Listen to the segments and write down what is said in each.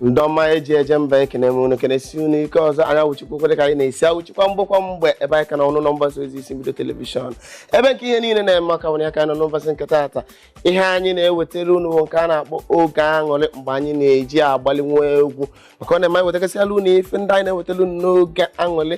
ndị oma e ji eje mba ekenee m unu kenesi unu ike ọzọ anyị awụchikwa kwere ka anyị na-esi awụchikwa mgbekwa mgbe ebe anyị ka na unu nọ na mgbasa ozi isi mbido telivishọn ebe nke ihe niile na-eme maka nwere aka nọ n'ụbọchị nke taata ihe anyị na-ewetara unu bụ nke a na-akpọ oge aṅụrị mgbe anyị na-eji agbalị nwa egwu maka ọ na-eme anyị wetagasịala unu ife ndị anyị na-ewetara unu n'oge aṅụrị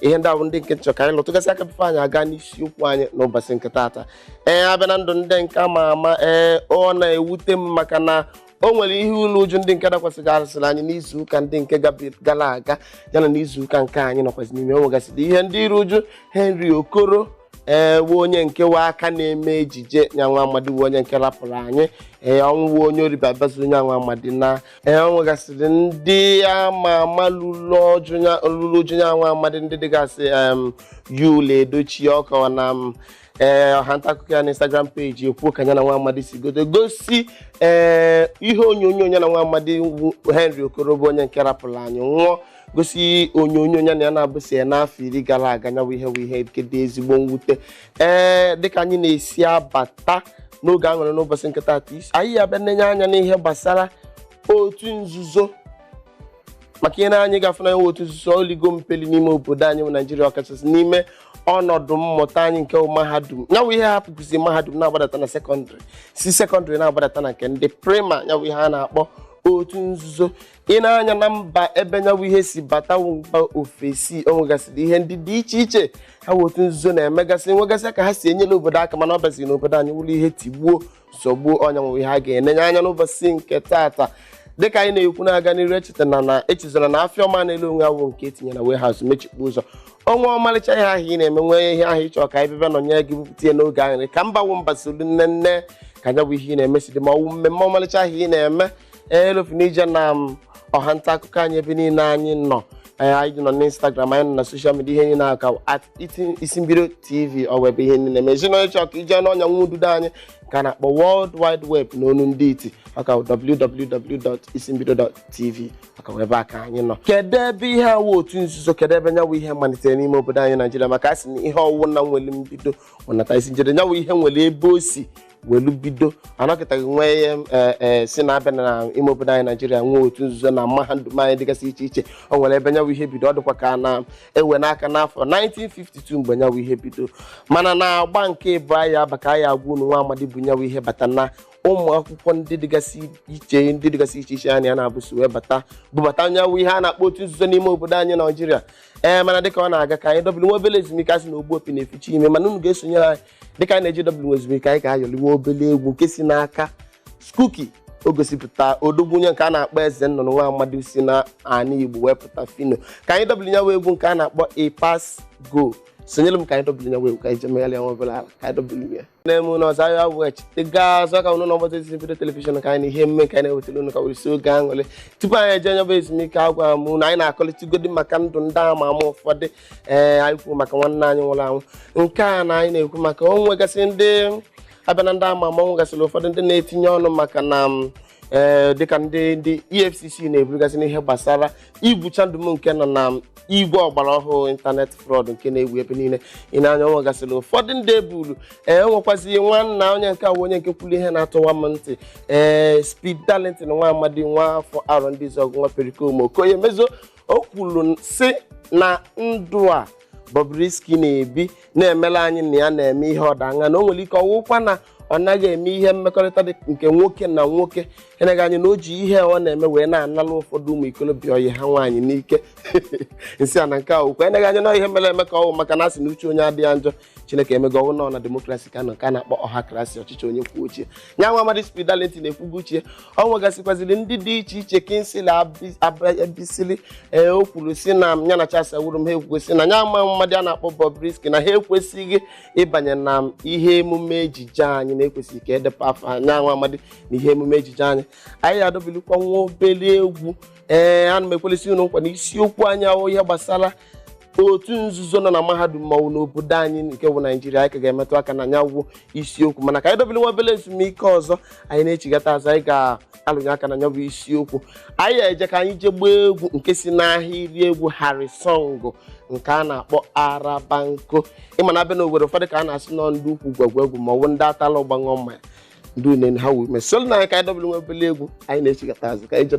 ihe ndị ahụ ndị nke m chọ ka anyị lụtụgasị aka bifo anyị aga n'isiokwu anyị n'ụbọchị nke taata ee a bịa na ndụ ndị nke ama ama ee ọ na-ewute m maka na o nwere ihe iru uju ndị nke dakwasịgasịrị anyị n'izu ụka ndị nke gabi- gara aga yana n'izu ụka nke anyị nọkwasị n'ime o nwegasịrị ihe ndị iru uju henry okoro ee wụ onye nke wụ aka na-eme ejije nya nwa amadi wụ onye nke rapụrụ anyị ee ọnwụ wụ onye oriba bazi onye anwa amadi na ee o nwegasịrị ndị ama ama lụrụ uju ya- lụrụ uju ya nwa amadị ndị dịgasị em, yul edochi ọka na m ee ọha nta akụkọ ya na instagram peji ekwuo ka ya na nwa amadị si godo gosi ee ihe onyonyo ya na nwa amadị wụ henry okoro bụ onye nke rapụrụ anyị nwụọ gosi onyonyo ya na ya na-abụsị ya n'afọ iri gara aga nyawụ ihe bụ ihe nke dị ezigbo mwute ee dịka anyị na-esi abata n'oge aṅụrị n'ụbọchị nke taata anyị ya-abịa nenye anya n'ihe gbasara otu nzuzo maka i nee anya ị ga-afụ na enwe otu nzuzo oligo mpeli n'ime obodo anyị bụ naijiria ọkachasị n'ime ọnọdụ mmụta anyị nke bụ mahadum nyawụ ihe hapụkwuzi mahadum na-agbadata na sekọndịrị si sekọndịrị na-agbadata na nke ndị praịmarị nyawụ ihe a na-akpọ otu nzuzo i nee anya na mba ebe nyawụ ihe si bata mba ofesi o nwegasịrị ihe ndị dị iche iche ha wụ otu nzuzo na-emegasị nwegasị ka ha si enyere obodo aka mana ọ bịaziri n'obodo anyị wụrụ ihe tigbuo zọgbuo ọ nya wụ ihe a ga-enenye anya n'ụbọchị nke taata dịka anyị na-ekwu na-aga n'iru echeta na na echezona na afịa ọma na-ele onwe ya awụ nke e tinye na warehouse mechikpu ụzọ o nwee ọmalịcha ihe ahụ ị na-eme nwee ihe ahụ ị chọ ka anyị bịa nọnye gị bupụta ya n'oge aṅụrị ka mba wụ mba solu nene ka nya bụ ihe ị na-eme si dị ma ọ wụ mmemme ọmalịcha ahụ ị na-eme elofuna ije na ọha nta akụkọ anyị ebe niile anyị nọ Ee, anyị nọ n'instagram anyị nọ na soshal midia ihe niile aka at iti- isi mbido tv ọ wụ ebe ihe niile ma ezinụlọ ị chọọ ka i jee n'ọnya nwa ududo anyị ka a na-akpọ world wide web n'onu ndị iti aka www.isimbido.tv ọ ka wụ ebe a ka anyị nọ kedu ebe ihe a wụ otu nzuzo kedu ebe nyawụ ihe malitere n'ime obodo anyị naijiria maka a sị na ihe ọwụna nwere mbido ọnata isi njede nyawụ ihe nwere ebe o si welu bido anọkịtaghị nwee ihe eh, eh, sị na a bịa na ime obodo anyị naijiria nwee otu nzuzo na mahadum anyị dịgasị iche iche o nwere ebe nyawu ihe bido ọ dịkwa ka a na-ewe n'aka n'afọ 1952 mgbe nyawu ihe bido mana na agba nke ịbụọ anyị aba ka anyị agwa unu nwa amadi bu nyawu ihe bata na ụmụ akwụkwọ ndị dịgasị iche ndị dịgasị iche iche anyị a na-abụso wee bata bubata nyawu ihe a na-akpọ otu nzuzo n'ime obodo anyị naijiria ee mana dịka ọ na-aga ka anyị dobiri nwa obere ezumike asị na ogbu opi na-eficha imi mana unu ga-esonyere anyị dịka anyị na-ejewe nwa ezumike anyị ga-ayọliwe obele egwu nke si n'aka Skuki o gosipụta odogwu onye nke a na-akpọ eze nnụnụ nwa amadi si na ana igbo wee pụta Phyno ka anyị dobili nyawu egwu nke a na-akpọ E Pass Go sonyere m ka anyị dobili nyawu egwu ka anyị jee megharịa nwa obere ala ka anyị dobili ya n'ime ụlọ ọzọ ahịa wee chite gaa ọzọ ka unu na ọgbata ezi bido telivishọn ka anyị na ihe omume ka anyị na-ewetara unu ka were si oge aṅụrị tupu anyị eje nyabụ ezumike agwa m na anyị na-akọlịtagodi maka ndụ ndị ama ama ụfọdụ ee anyị kwuo maka nwanne anyị nwụrụ anwụ nke a na anyị na-ekwu maka o nwegasị ndị a bịa na ndị ama ama o nwegasịrị ụfọdụ ndị na-etinye ọnụ maka na m, ee dịka ndị ndị efcc na-eburugasị n'ihe gbasara igwu chandum nke nọ na m, igwe ọgbara ọhụụ ịntanetị fraud nke na-ewu ebe niile i nee anya o nwegasịrị ụfọdụ ndị e bulu ee o nwekwazi nwanna onye nke a bụ onye nke kwuru ihe na-atụwa m ntị ee speed darlington nwa amadi nwa afọ Arọndizuọgụ nwa Pericomo Okoye Mezuo o kwuru sị na ndụ a Bobrisky na-ebi na-emela anyị na ya na-eme ihe ọdaṅa na o nwere ike ọwụkwa na ọ naghị eme ihe mmekọrịta dị nke nwoke na nwoke eneghị anya na o ji ihe ọ na-eme wee na-anala ụfọdụ ụmụ ikolobịa ọyị ha nwaanyị n'ike nsị a na nke a okwu eneghị anya na ihe mere eme ka ọ wụ maka na asị na uche onye adịghị njọ chineke emego ọ wụ nọ na demokrasi ka a nọ nke a na-akpọ ọha krasi ọchịchị onye kwuo uche nya nwa amadi Speed Darlington ekwugo uche ya o nwegasịkwaziri ndị dị iche iche Kingsley Abasili ee o kwuru sị na ya na Charles Awurum ha ekwugo sị na nya nwa amadi a na-akpọ Bobrisky na ha ekwesịghị ịbanye na ihe emume ejije anyị na ekwesịghị ka e deba afa nya nwa amadi na ihe emume ejije anyị anyị adobilikwa nwa obere egwu ee ana m ekwelisi unu nkwa na isiokwu anyị ahụ ihe gbasara otu nzuzo nọ na mahadum ma ọ wụ n'obodo anyị nke bụ naijiria anyị ka ga-emetụ aka na nyawu isiokwu mana ka anyị dobere nwa obere ezumike ọzọ anyị na-echigata azụ anyị ga-alụnye aka na nyabụ isiokwu anyị eje ka anyị jee gbaa egwu nke si n'ahịrị egwu Harrysong nke a na-akpọ Arabanko ị ma na a bịa na Owerri ụfọdụ ka a na-asị nọ ndị ukwu gwagwa egwu ma ọ bụ ndị atala ụgba aṅụ mmanya ndị une ha wume solu nụ anyị ka anyị dobere nwa obere egwu anyị na-echigata azụ ka anyị jebe